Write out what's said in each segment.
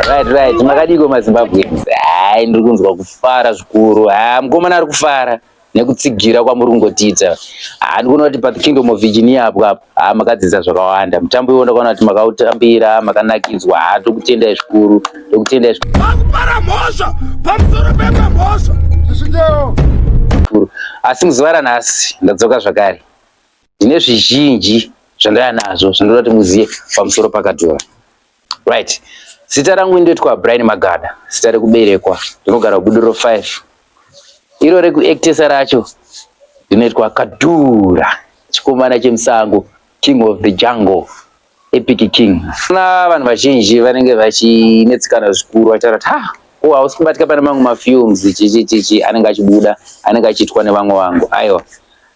Right, right. Makadiko maZimbabweans. Hai, ndiri kunzwa kufara zvikuru. Ah, mukomana ari kufara. nekutsigira kwamuri kungotiita handi kuona kuti pa kingdom of virginia apo apo haa makadzidza zvakawanda mutambo iwo ndakaona kuti makautambira makanakidzwa haa tokutendai zvikuru tokutendai vakupara mhosva pamusoro pemwe mhosva zvisinyewo asi muzuva ranhasi ndadzoka zvakare ndine zvizhinji zvandaya nazvo zvandoda kuti muzive pamusoro pakadhura Right. Zita rangu ndoitwa Brian Magada, zita rekuberekwa ndinogara Guduro 5. Iro rekuactesa racho ndinoitwa Kadura, chikomana chemusango, king of the jungle, epic king. Na vanhu vazhinji vanenge vachinetsikana zvikuru vachitaura kuti ha ko hausi kubatika pane mamwe mafilms chichi chichi anenge achibuda anenge achiitwa nevamwe vangu. Aiwa.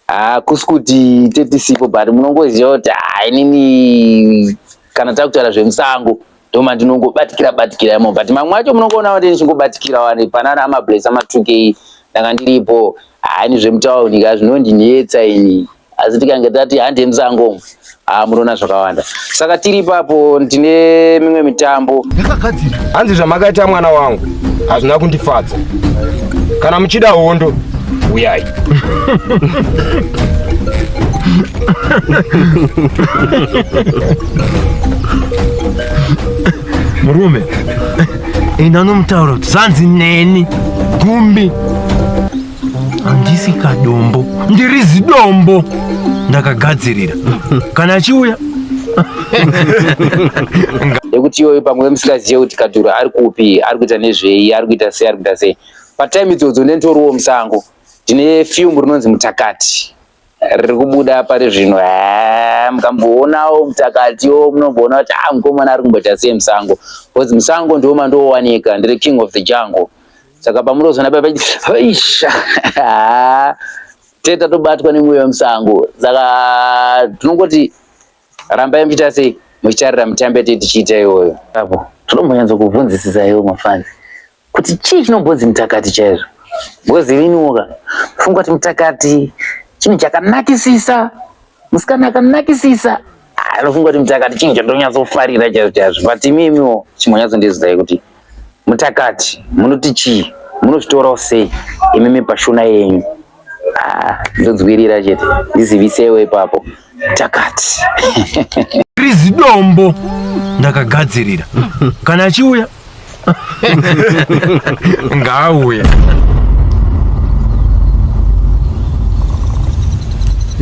hakusi kuti tetisipo but munongoziva kuti hainini kana takutaura zvemusango ndoma ndinongobatikira batikira imo but mamwe acho munongoona kuti ndichingobatikira wani panana amables amatukei ndanga ndiripo haini zvemutauni ka zvinondinetsa ini asi tikange tati handi emusango Ah, munoona zvakawanda saka tiri ipapo ndine mimwe mitambo yakagadzira hanzi zvamakaita mwana wangu hazvina kundifadza kana muchida hondo uyai murume ini anomutaura kuti zvanzi neni gumbi handisi kadombo ndiri zidombo ndakagadzirira kana achiuya nekuti iyoyo pamwe musikazive kuti kadhuru ari kupi ari kuita nezvei ari kuita sei ari kuita sei patime idzodzo ndenitoriwo musango ndine fiumbu rinonzi mutakati riri kubuda pari zvino eh, mukamboonawo mutakatiwo munogona kuti ah mukomana ari kumboita sei musango because musango ndiwo mandoowanika ndiri king of the jungle saka pamunozoona paa isha tete tatobatwa nemweya wemusango saka tinongoti rambai muchiita sei muchitarira mitambe tei tichiita iyoyo apo tinombonyatso kuvhunzisisa iwo mafanzi kuti chii chinombonzi mutakati chaizvo ngozi iniwoka funga kuti mutakati chinhu chakanakisisa musikana akanakisisa anofunga kuti mutakati chinhu chandonyatsofarira chaizvo chaizvo but imimiwo chimonyatsondi kuti mutakati munoti chii munozvitorawo sei imimi pashona yenyu Ah, ndodzwirira chete ndizivisewo ipapo takati krizi dombo ndakagadzirira kana achiuya ngaauya